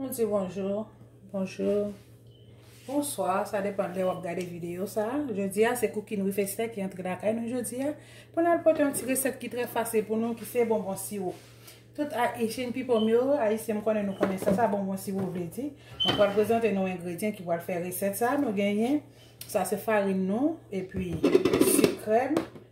Nou di bonjour, bonjour, bonsoir, sa depan lè wap gade video sa. Jodi a se Cooking with Esther ki antre lakay nou jodi a. Pou nan pote yon ti resèt ki trè fasil pou nou ki se bonbon siwo. Tout a Asian people myo, a isi m konnen nou konnen sa sa bonbon siwo vle di. Mwen pral prezante nou engredyen ki pral fè resèt sa. Nou genyen, sa se farin nou, epi si krem,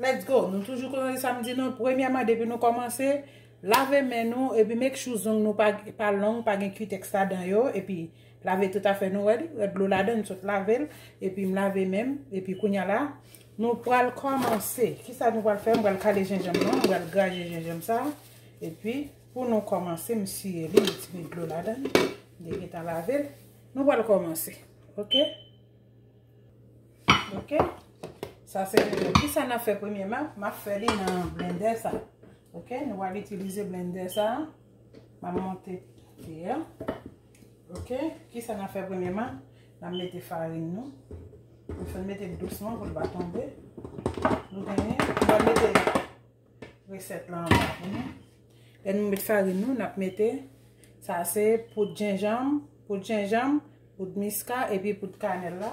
Let's go! Nou toujou konnen sa m di nou, premyèman depi nou kòmanse, lave men nou epi make sure zong nou pa long, pa gen kutex ladan yo epi lave tout afè nou, wè li, wè dlo ladan m sot lave l epi m lave men m epi kounya la nou pral kòmanse, kisa nou pral fè m pral kale jenjanm nan, m pral graje jenjanm sa epi pou nou kòmanse m siye li, m ti met dlo ladan li, m gentan lave l nou pral kòmanse, ok. Ok. Sa se premye. Ki sa nan fè premye man? Ma fè li nan blendè sa. Ok. Nou wale itilize blendè sa. Ma monte. Ok. Ki sa nan fè premye man? Nan mete farin nou. Nou fè mete dousman pou l pa tonbe. Nou fè mete. Resèt la anba pou nou. Lè nou met farin nou, n ap mete, sa se poud jenjanm, poud jenjanm, poud miska epi poud kanèl la.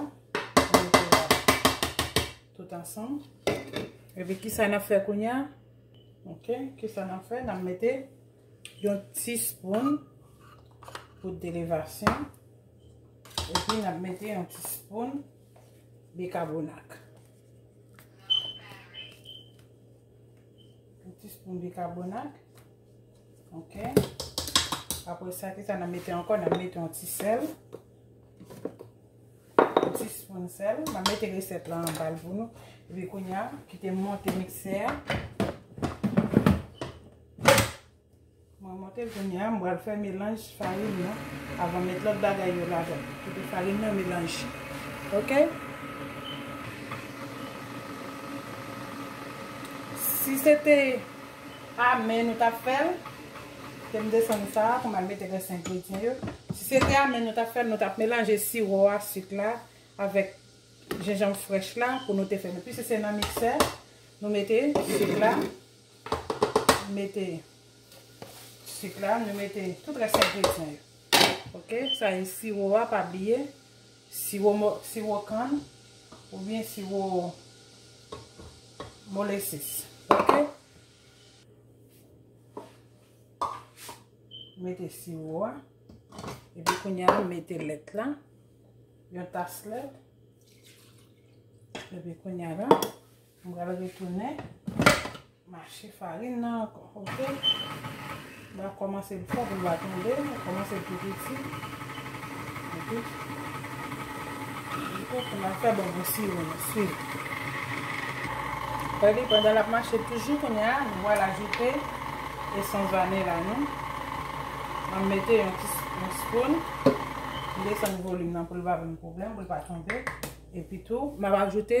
Tout ansanm. Epi ki sa n ap fè kounye a? Ok, ki sa n ap fè? N ap mete yon ti spoun poud elevasyon. Epi n ap mete yon ti spoun bikabonak. Yon ti spoun bikabonat. Ok. Apre sa ki sa nan mete anko, nan mete yon ti sel. Yon ti spoun sel. Nan mete reset la an bal pou nou. Epi konya, kite monte mikse a. Mwen monte kounye a, m pral fè melanj farin nan avan m met lòt bagay yo ladan. Kite farin nan melanje ok. Si se te a men nou tap fè l, kite m desann sa pou m al mete rès engredyan yo. Si se te a men nou tap fè l, nou tap melanje siwo a, sik la avèk jenjanm frèch la pou nou te fè l. Epi si se nan miksè nou mete sik la. Mete sik la, nou mete tout rès engredyan yo. Ok, sa e siwo a, pa bliye. Siwo kann oubyen siwo molesis. Ok. Mete siwo a. Epi kounya nou mete lèt la. Yon tas lèt. Epi kounya la, M pral retounen mache farin nan ankò. Ok. L va kòmanse l fò pou l va tonbe. L kòmanse l pi piti. Ok. Li fò pou l ap fè bon gou siwo nou swiv. Fè li pandan l ap mache toujou kounye a nou pral ajoute esans vanila nou. M ap mete yon ti spoon. M desann volim nan pou l pa ban m pwoblèm pou l pa tonbe. Epitou m ap ajoute.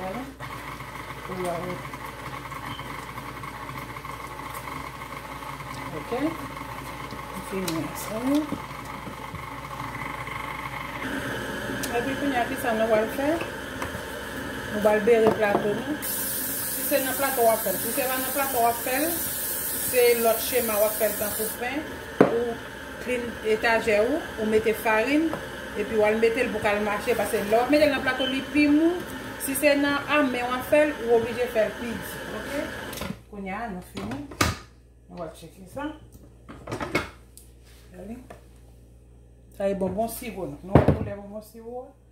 Wala. Pou yo wè. Ok. M fini ak sa. Epi kounye a ki sa nou wal fè? Nou wal bere plato nou. Si se nan plato wap fèl. Si se pa nan plato wap fèl. Se lòt chema wap fèl tankou pen. Ou. Klin etajè ou, ou mete farin, epi wal metel pou kal mache pase lè wap metel nan plato li pi mou, si se nan a men wap fèl ou oblije fèl pi di ok. Kounya nou fini nou pral tcheke sa gade sa e bonbon siwo nou wè koulè bonbon siwo a.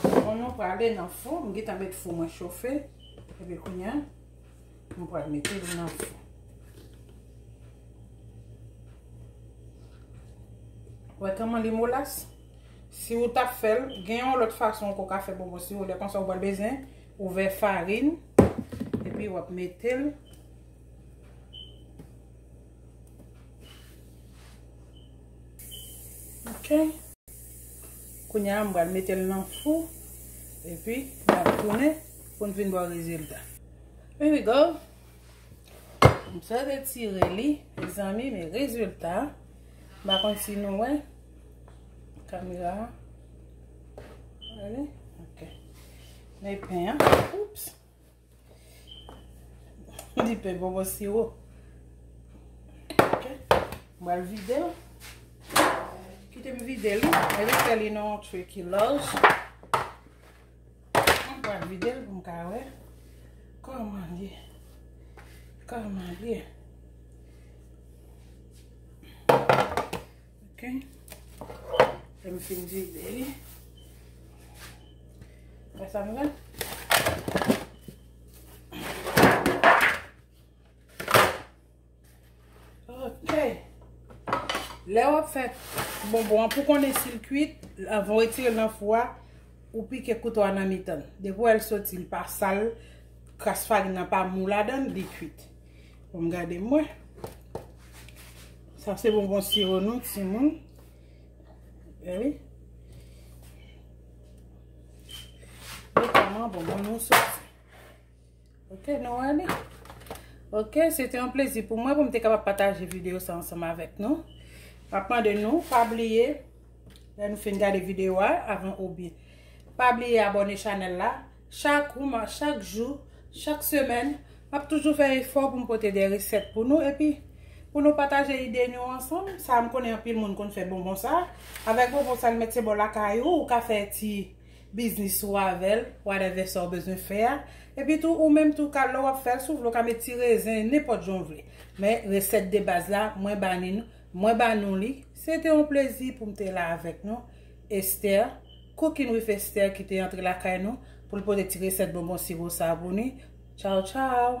Bon nou prale nan fou, m gita met fou mwen chofe, epi kounya, m pral mete li nan fou. Wè kèman li molas? Si ou tap fèl, gen yon lòt fason ou ka fè bonbon si ou lè konsa ou wè bezwen, ou vè farin, epi wap metel. Ok. Kounya m pral mete l nan fou. E pi, m ap tounen pou n vin bò rezilta. Here we go. M sot retire li. Mezanmi, men rezilta. M pa konn si nou wè. Kamera. Wè li? Ok. Men pen an. Oups. M di pe bonbon siwo. M al vide l. Kite m vide l. E li fè li nan yon tray ki laj. M al vide l pou m ka wè. Koman l ye? Koman l ye? Ok. Lè m fin vide li. Wè sa m gen? Ok. Lè w ap fè bonbon an pou konnen si l kuit, avan w retire l nan fou a, ou pike kouto a nan mitan l. Depi w wè l soti, l pa sal, kras farin nan pa mou ladan l, li kuit. Bon m gade m wè. Sa se bonbon siro nou ti moun. E wi. Yo kama bonbon nou sot. Ok nou wè li. Ok, se te yon plezi pou mwen pou m te kapap pataje video sa ansanm avèk nou. Pa pman de nou, pa bliye. Lè nou fin gade video a, avan ou bi. Pa bliye abone chanel la. Chak rma, chak jou, chak semèn, m ap toujou fè efò pou m pote de resèt pou nou epi pou nou pataje ide nou ansanm. Sa m konnen anpil moun konn fè bonbon sa. Avèk bonbon sa l mèt se bò lakay ou, ou ka fè ti biznis ou avè l, whatever sa ou bezwen fè a. Epi tou ou menm tou ka lè w ap fè l si w vle ou ka met ti rezen, nenpòt jan w vle. Men resèt de baz la mwen ba ni nou, mwen ba nou li. Se te yon plezi pou m te la avèk nou. Esther, Cooking with Esther ki te antre lakay nou pou l pote ti resèt bonbon siro sa pou ni. Tchaw tchaw!